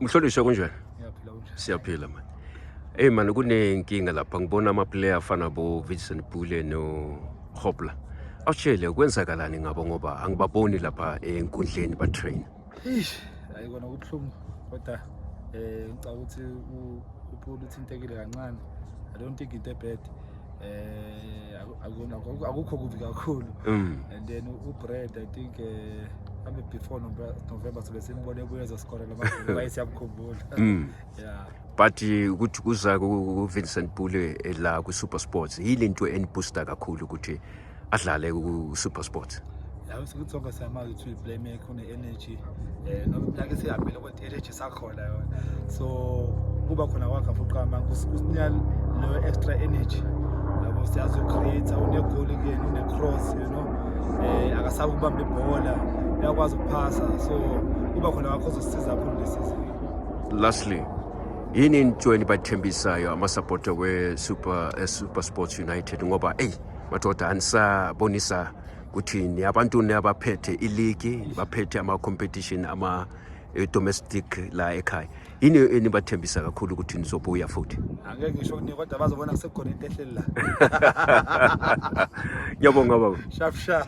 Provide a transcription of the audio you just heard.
Mhlonishwa kunjani? Siyaphila manje. Hey man kunenkinga lapha ngibona ama player afana bo Vincent Pule no Hopla. Awushele kwenzakalani ngabo ngoba angibaboni lapha enkundleni ba train. Eish, hayi kona kubuhlungu kodwa eh ngicabanga ukuthi uPaul uthintekile kancane. I don't think into bad. Eh akukho akukho kubi kakhulu. Mm. And then uBrad I think eh abe before November sobe simbone ebuye ezoskorela amagoli baye siyamkhumbula. Mm. Yeah. but eh, ukuthi kuza ku-vincent bule eh, la ku-super sports yile nto enibooster kakhulu ukuthi adlale ku-supersport yabe sikuthi sonke siyamazi ukuthi uyi-playmaker une-energy um noma iminyaka esihambile kodwa i-energy sakhona yona so kuba khona kwakhe fuqama kusinika leyo extra energy yabo siyazi ucreate unegoli kuyena une-cross you know um akasabe ukubamba ibhola uyakwazi ukuphasa so kuba khona kwakho ozosisiza kakhulu lesizini lastly yini into enibathembisayo amasapota we-super eh, super sports united ngoba eyi madoda anisabonisa kuthini abantu abaphethe iligi baphethe ama-competition ama-domestic eh, la ekhaya yini enibathembisa kakhulu ukuthi nizobuya futhi angeke ngisho kuningi kodwa bazobona kusekhona into ehleli la ngiyabonga baba shap shap